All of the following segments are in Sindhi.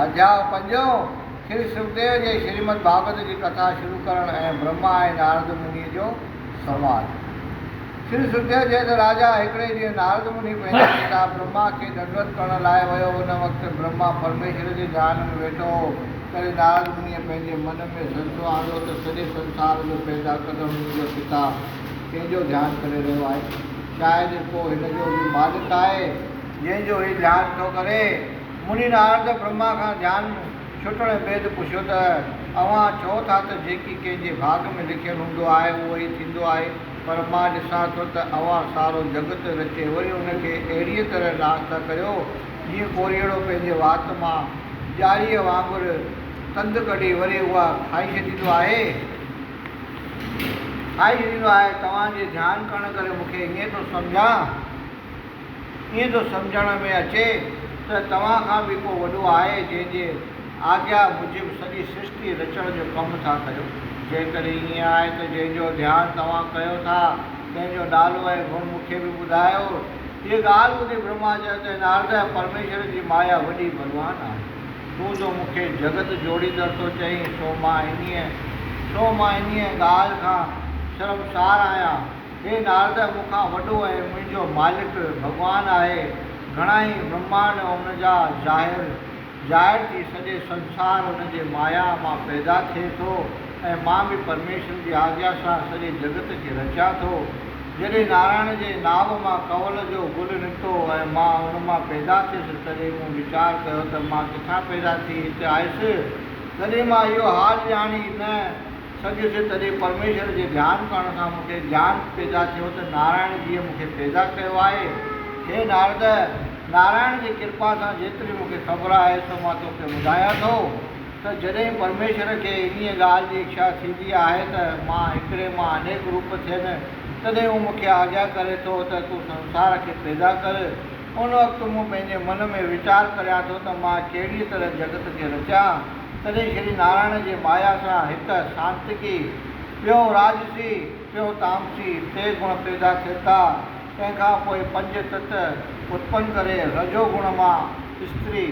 اڌياء پنجون، شري سکديو جي شريمد ڀاڳوت جي ڪٿا شروع ڪرڻ ۽ برهما ۽ نارد مني جو سنواد. شري سکديو چئي ته راجا هڪڙي ڏينهن نارد مني پنهنجي پتا برهما کي ڏنڊوت ڪرڻ لاء ويو ان وقت برهما پرميشور جي ڌيان ۾ ويٺو هو تڏهن نارد منيء پنهنجي من ۾ سنسو آندو ته سڄي سنسار جو پيدا ڪندڙ منهنجو پتا ڪنهن جو ڌيان ڪري رهيو آهي شايد ڪو هن جو به مالڪ آهي جنهن جو هي ڌيان ٿو ڪري. مني نارد برهما کان ڌيان ڇٽڻ بيد پڇيو ته، اوهان چئو ٿا ته جيڪي ڪنهن جي ڀاڳ ۾ لکيل هوندو آهي اهو ئي ٿيندو آهي، پر مان ڏسان ٿو ته اوهان سارو جڳت رچي وري ان کي اهڙيء طرح ناس ٿا ڪريو، جيئن ڪوريئڙو پنهنجي وات مان ڄاريء وانگر تند ڪڍي وري اها کائي ڇڏيندو آهي. کائي ڇڏيندو آهي. توهان جي ڌيان ڪرڻ ڪري مون کي ائين ٿو سمجهان. ائين ٿو سمجهڻ ۾ اچي ته توهان کان به ڪو وڏو آهي جنهن جي آگيا موجب سڄي سرشتي رچڻ جو ڪم ٿا ڪريو. جيڪڏهن ائين آهي ته جنهن جو ڌيان توهان ڪيو ٿا تنهن جو نالو ۽ گڻ مون کي به ٻڌايو. هيء ڳالهه ٻڌي برهما چيو ته نارده! پرميشور جي مايا وڏي بلوان آهي. تون جو مون کي جڳت جوڙيندڙ ٿو چئين سو مان انهيء سو مان انهيء ڳالهه کان شرمسار آهيان. هي نارد مون کان وڏو ۽ منهنجو مالڪ ڀڳوان آهي، گهڻائي برهماڻ ان جا ظاهر ظاهر ٿي سڄي سنسار ان جي مايا مان پيدا ٿئي ٿو ۽ مان به پرميشور جي آجيا سان سڄي جڳت کي رچان ٿو. جڏهن نارائڻ جي ناڀ مان ڪنول جو گل نڪتو ۽ مان ان مان پيدا ٿيس تڏهن مون ويچار ڪيو ته مان ڪٿان پيدا ٿي هت آيس؟ تڏهن مان اهو حال ڄاڻي نه سگهيس تڏهن پرميشور جي ڌيان ڪرڻ سان مون کي گيان پيدا ٿيو ته نارائڻ جيء مون کي پيدا ڪيو آهي. هي نارد! نارائڻ جي ڪرپا سان جيتري مون کي خبر آهي سو مان توکي ٻڌايان ٿو ته جڏهن پرميشور کي انهيء ڳالهه جي اکشا ٿيندي آهي ته مان هڪڙي مان انيڪ روپ ٿين تڏهن هو مون کي آجيا ڪري ٿو ته تون سنسار کي پيدا ڪر ان وقت مون پنهنجي من ۾ ويچار ڪريان ٿو ته مان ڪهڙيء طرح جڳت کي رچيان، تڏهن شري نارائڻ جي مايا سان هڪ سانتڪي، پيو راجسي، پيو تامسي، ٽي گڻ پيدا ٿين ٿا، تنهن کان پوء پنج تت اتپن ڪري رجو گڻ مان استري،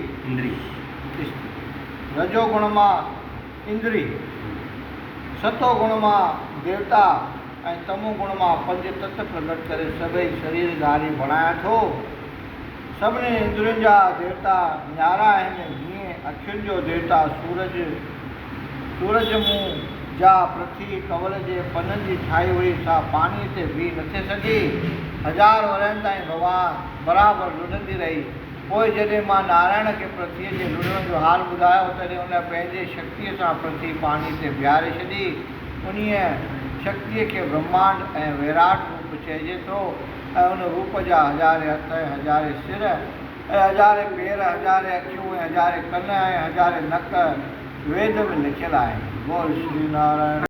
رجو گڻ مان اندري، ستو گڻ مان ديوتا، ۽ تمو گڻ مان پنج تت پرگٽ ڪري سڀئي شرير ڌاري بڻايان ٿو. سڀني اندرين جا ديوتا نيارا آهن، جيئن اکين جو ديوتا سورج، سورج منهن، جا پرٿوي ڪنول جي پنن جي ٺاهي هئي، سا پاڻيء تي بيهي نٿي سگهي، هزار ورهين تائين ڀڳوان برابر لڙهندي رهي. پوء جڏهن مان نارائڻ کي پرٿويء جي لڙهڻ جو حال ٻڌايو، تڏهن ان پنهنجي شڪتيء سان پرٿوي پاڻيء تي بيهاري ڇڏي. انهيء شڪتيء کي برهمانڊ ۽ ويراٽ روپ چئجي ٿو ۽ ان روپ جا هزارين هٿ ۽ هزارين سر ۽ هزارين پير، هزارين اکيون ۽ هزارين ڪن ۽ هزارين نڪ ويد ۾ لکيل آهن. بول شري نارائڻ.